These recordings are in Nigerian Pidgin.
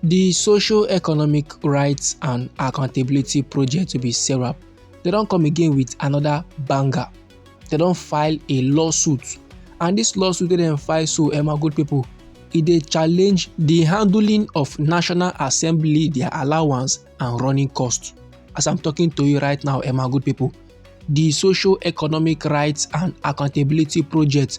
The Social Economic Rights and Accountability Project to be SERAP, they don come again with another banger. They don file a lawsuit and this lawsuit wey dem file so um, good people, e dey challenge the handling of National Assembly, their allowance and running cost. As I'm talking to you right now, um, good people, the Social Economic Rights and Accountability Project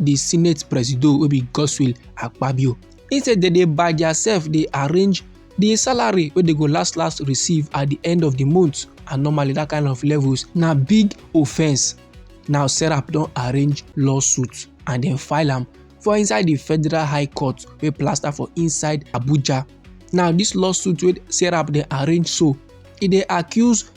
di senate presido wey be godswill akpabio He say dem dey by diasef dey arrange di salary wey dey go last last receive at di end of di month and normally dat kind of levels na big offence now serap don arrange lawsuit and dem file am for inside di federal high court wey plaster for inside abuja now dis lawsuit wey serap dey arrange so e dey accuse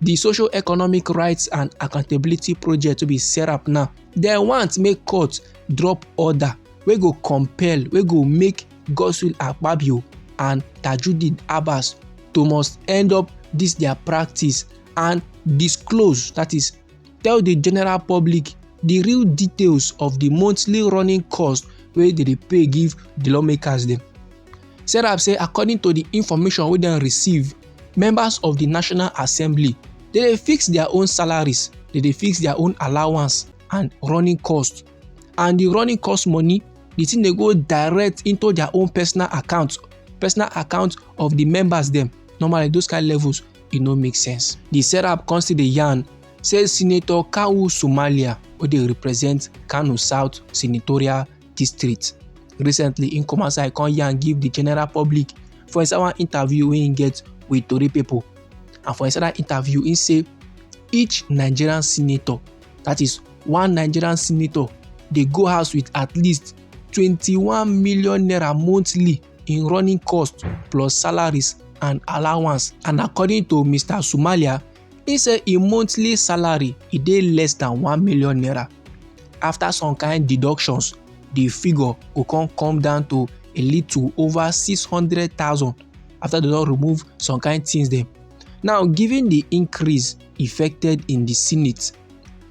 di social economic rights and accountability project wey be serap now dem want make court drop order wey go compel wey go make godswill akpabio and tajudeen abbas to must end up dis their practice and disclose that is tell the general public the real details of the monthly running cost wey dey dey pay give the lawmakers dem. serap say according to di information wey dem receive members of di national assembly dey dey fix dia own salaries dey dey fix dia own allowance and running cost and di running cost money di thing dey go direct into dia own personal account personal account of di members dem normally those kind levels e no make sense di serap come still dey yarn say senator kawu somalia wey dey represent kano south senatorial district Recently, im come outside come yarn give the general public for inside one interview wey im get with tori people. And for inside that interview, im say each Nigerian senator, that is one Nigerian senator, dey go house with at least twenty-one million naira monthly in running costs plus salaries and allowance. And according to Mr. Somalia, He say im monthly salary e dey less than one million naira. After some kind deductions, the figure go come come down to a little over six hundred thousand after they don remove some kind things dem. Now, given the increase effected in the Senate,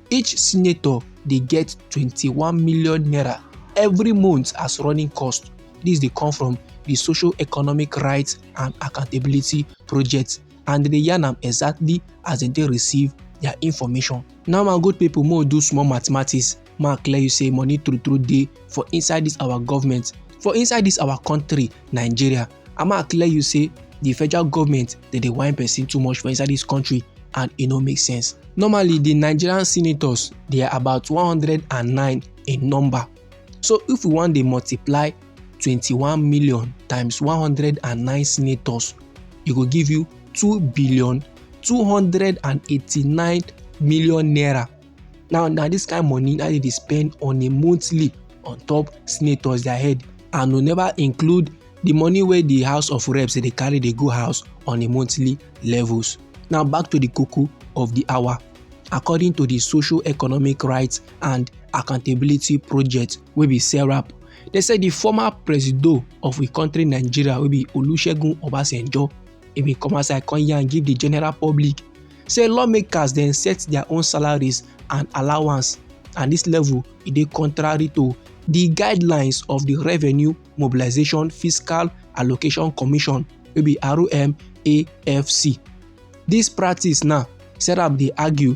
each senator dey get twenty one million naira every month as running cost. This dey come from the Social Economic Rights and Accountability Project and dem dey yarn am exactly as dem take receive their information. Now my good people make we do small mathematics make I clear you say money true true dey for inside this our government for inside this our country Nigeria and make I clear you say the federal government dey dey whine person too much for inside this country and e no make sense. Normally the Nigerian senators they are about 109 in number so if we wan dey multiply 21 million times 109 senators e go give you 2 billion 289 million naira now na this kind money na dem dey spend on a monthly on top senators their head and we never include the money wey the house of reps dey carry dey go house on a monthly levels now back to the koko of the hour according to the social economic rights and accountability project wey be serap dem say di former presido of we country nigeria wey be olusegun obasanjo e bin come outside come yarn give di general public say lawmakers dem set their own salaries and allowance and dis level e dey contrary to di guidelines of di revenue mobilisation fiscal allocation commission wey be rmafc dis practice now serap dey argue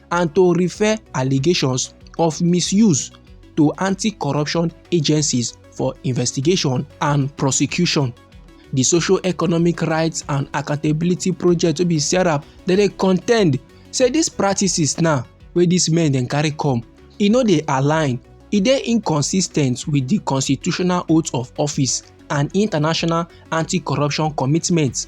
and to refer allegations of misuse to anti-corruption agencies for investigation and prosecution. The Social Economic Rights and Accountability Project wey be SERAP dem dey contend say these practices now wey these men dem carry come e no dey align e dey inconsistent with the constitutional oath of office and international anti-corruption commitments.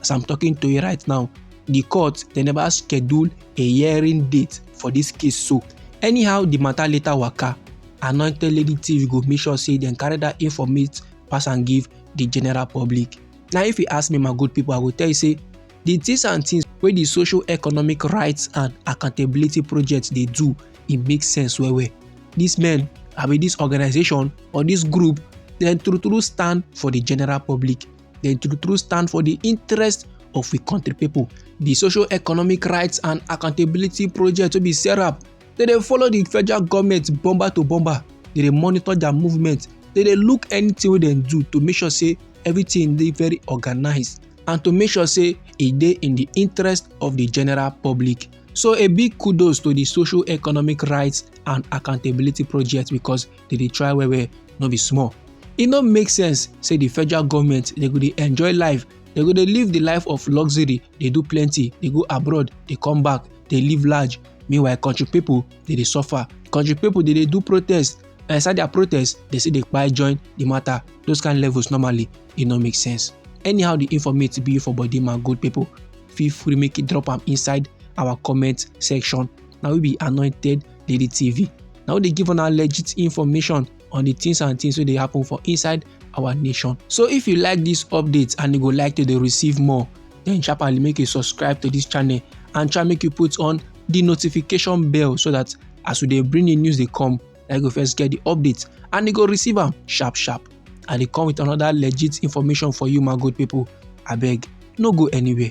as i'm talking to you right now the court they never schedule a hearing date for this case so anyhow the matter later waka anointed lady tv go make sure say dem carry that informate pass and give the general public now if you ask me my good people i go tell you say the things and things wey the social economic rights and accountability project dey do e make sense well well these men abi this organization or this group dem true true stand for the general public dem true true stand for di interest of we country pipo di social economic rights and accountability project wey be serap dem dey follow di federal goment bomber to bomber dem dey monitor dia movement dem dey look anytin wey dem do to make sure say everytin dey very organised and to make sure say e dey in di interest of di general public so a big kudos to di social economic rights and accountability project because dey dey try well well no be small e no make sense say the federal government dey go dey enjoy life dey go dey live the life of luxury dey do plenty dey go abroad dey come back dey live large meanwhile country people dey dey suffer country people dey dey do protest and inside their protest dey still dey kpai join the matter those kind levels normally e no make sense anyhow the informate be for body my good people feel free make you drop am inside our comment section na we be anointed lady tv na we dey give una legit information on the things and things wey dey happen for inside our nation so if you like this update and you go like to dey receive more then sharply make you subscribe to this channel and try make you put on the notification bell so that as we dey bring the news dey come na you go first get the update and you go receive am sharp sharp and e come with another legit information for you my good people abeg no go anywhere